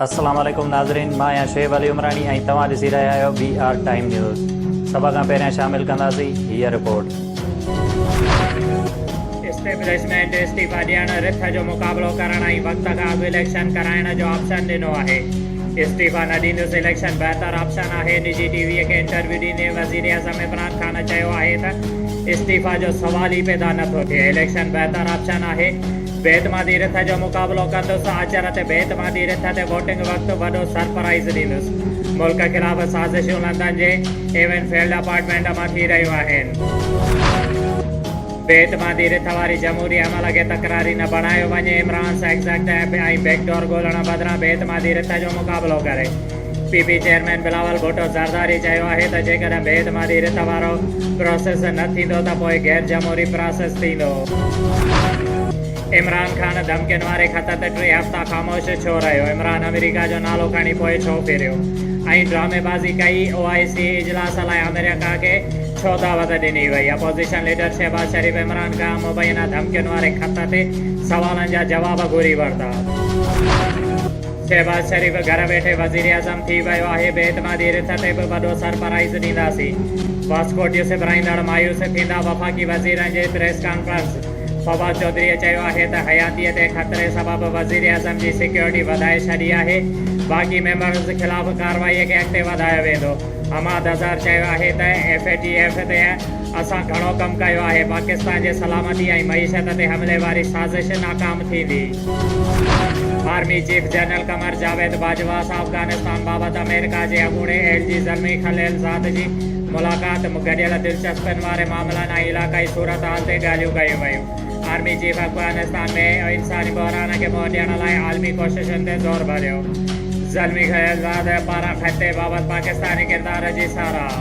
السلام عليڪم ناظرين مان آهيان شعيب علي عمراڻي ۽ توهان ڏسي رهيا آهيو بي آر ٽائيم نيوز سڀ کان پهريان شامل ڪنداسين هيء رپورٽ اسٽيبلشمينٽ استعيفا ڏيڻ رٿ جو مقابلو ڪرڻ ۽ وقت کان اڳ اليڪشن ڪرائڻ جو آپشن ڏنو آهي استعيفا نه ڏيندس، اليڪشن بهتر آپشن آهي، نجي ٽي وي کي انٽرويو ڏيندي وزيراعظم عمران خان چيو آهي ته استعيفا جو سوال ئي پيدا نه ٿو ٿئي، اليڪشن بهتر آپشن آهي، بي اعتمادي رٿ جو مقابلو ڪندس، آچر تي بي اعتمادي رٿ تي ووٽنگ وقت وڏو سرپرائيز ڏيندس، ملڪ خلاف سازشون لندن جي ايون فيلڊ اپارٽمينٽ مان ٿي رهيون آهن. بي اعتمادي رٿ واري جمهوري عمل کي تڪراري نه بڻايو وڃي، عمران سائيڪس اڳتي ۽ بيڪ ڊور ڳولڻ بدران بي اعتمادي رٿ جو مقابلو ڪري. P P chairman Bilawal Bhutto Zardari چيو آهي ته جيڪڏهن بي اعتمادي رٿ وارو پراسيس نه ٿيندو ته پوء غير جمهوري پراسيس ٿيندو. عمران خان ڌمڪين واري خط تي ٽي هفتا خاموش ڇو رهيو، عمران آمريڪا جو نالو کڻي پوء ڇو ڦريو ۽ ڊرامي بازي ڪئي، او آء سي اجلاس لاء آمريڪا کي ڇو دعوت ڏني وئي؟ اپوزيشن ليڊر شهباز شريف عمران کان مبينا ڌمڪين واري خط تي سوالن جا جواب گهري ورتا. شهباز شريف گهر ويٺي وزيراعظم ٿي ويو آهي، بي اعتمادي رٿ تي به وڏو سرپرائيز ڏينداسين، واسڪو ڊيو سپرائيندڙ مايوس ٿيندا، وفاقي وزيرن جي پريس ڪانفرنس، فواد چوڌريء چيو آهي ته حياتيء تي خطري سبب وزيراعظم جي سيڪيورٽي وڌائي ڇڏي آهي، باقي ميمبرز خلاف ڪارروائي کي اڳتي وڌايو ويندو. حماد اظهر چيو آهي ته ايف اي ٽي ايف تي اسان گهڻو ڪم ڪيو آهي، پاڪستان جي سلامتي ۽ معيشت تي حملي واري سازش ناڪام ٿيندي. Army chief general Qamar Javed Bajwa سان افغانستان بابت آمريڪا جي اڳوڻي ايل جي زلمي خليل زاد جي ملاقات م گڏيل دلچسپين واري معاملن ۽ علاقائي صورتحال تي ڳالهيون ڪيون ويون. آرمي چيف افغانستان ۾ انساني بحران کي منهن ڏيڻ لاء عالمي ڪوششن تي زور ڀريو، زلمي خيرزاد پاران خطي بابت پاڪستاني ڪردار جي ساراهه.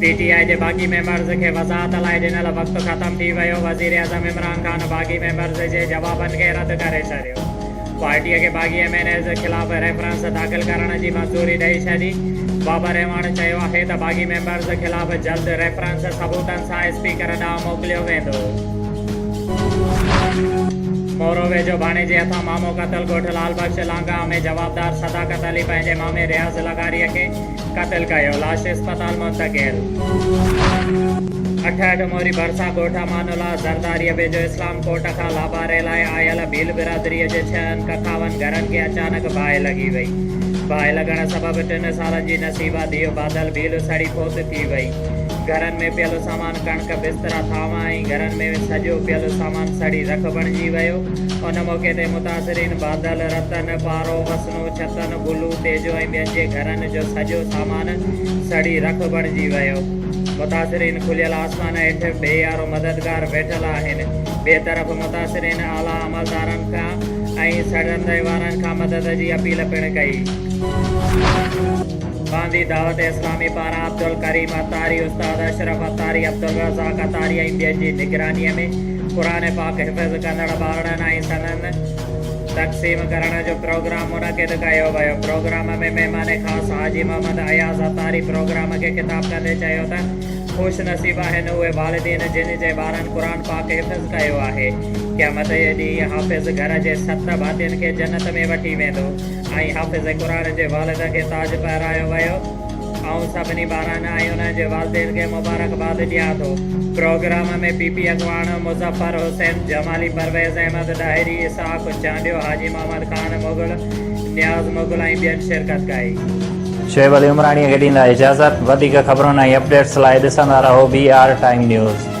پي ٽي آء جي باغي ميمبرز کي وضاحت لاء ڏنل وقت ختم ٿي ويو، وزيراعظم عمران خان باغي ميمبرز جي جوابن کي رد ڪري ڇڏيو. پارٽيء کي باغي ايم اين ايز خلاف ريفرنس داخل ڪرڻ جي منظوري ڏئي ڇڏي. بابر رحماڻ چيو آهي ته باغي ميمبرز خلاف جلد ريفرنس ثبوتن سان اسپيڪر ڏانهن موڪليو ويندو. مورو ويجهو ڀاڻيجي هٿان مامو قتل ڳوٺ لعل بخش لانگاهه ۾ جوابدار صداقت علي پنهنجي مامي رياض لغاريء کي قتل ڪيو، لاش اسپتال منتقل. اٺهه اٺ موري ڀرسان ڳوٺ امان الله زرداريء ويجهو اسلام ڪوٽ کان لاباري لاء آيل ڀيل برادريء جي ڇهن ڪکاون گهرن کي اچانڪ باهه لڳي وئي. باهه لڳڻ سبب ٽن سالن جي نصيبه ڌيء بادل ڀيل سڙي فوت ٿي وئي. گهرن ۾ پيل سامان ڪڻڪ، بسترا، ٿانو ۽ گهرن ۾ سڄو پيل سامان سڙي رک بڻجي ويو. ان موقعي تي متاثرين بادل، رتن، پارو، وسندو، ڇتن، گلو، تيجو ۽ ٻين جي گهرن جو سڄو سامان سڙي رک بڻجي ويو. متاثرين کليل آسمان هيٺ بي يارو مددگار ويٺل آهن. ٻئي طرف متاثرين اعليٰ عملدارن کان ۽ سڙندي وارن کان مدد جي اپيل پڻ ڪئي. باندي دعوت اسلامي پاران عبدالڪريم عطاري، استاد اشرف عطاري، عبدالرزاق عطاري ۽ ٻين جي نگرانيء ۾ قرآن پاڪ حفظ ڪندڙ ٻارڙن ۽ سندن تقسيم ڪرڻ جو پروگرام منعقد ڪيو ويو. پروگرام ۾ مهمان خاص حاجي محمد اياز عطاري پروگرام کي خطاب ڪندي چيو ته خوش نصيب آهن اهي والدين جن جي ٻارن قرآن پاڪ حفظ ڪيو آهي. قيامت جي ڏينهن حافظ گهر جي ست ڀاتين کي جنت ۾ وٺي ويندو. ائين حافظ قرآن جي والد کي تاج پهرايو ويو. آئون سڀني ٻارن ۽ انهن جي والدين کي مبارڪباد ڏيان ٿو. پروگرام ۾ پي پي اڳواڻ مظفر حسين جمالي، پرويز احمد ڏاهري، اسحاق چانڊيو، حاجي محمد خان مغل، نياز مغل ۽ ٻين شرڪت ڪئي. شعيب علي عمراڻيء کي ڏيندا اجازت. وڌيڪ خبرن ۽ اپڊيٽس لاء ڏسندا رهو بي آر ٽائيم نيوز.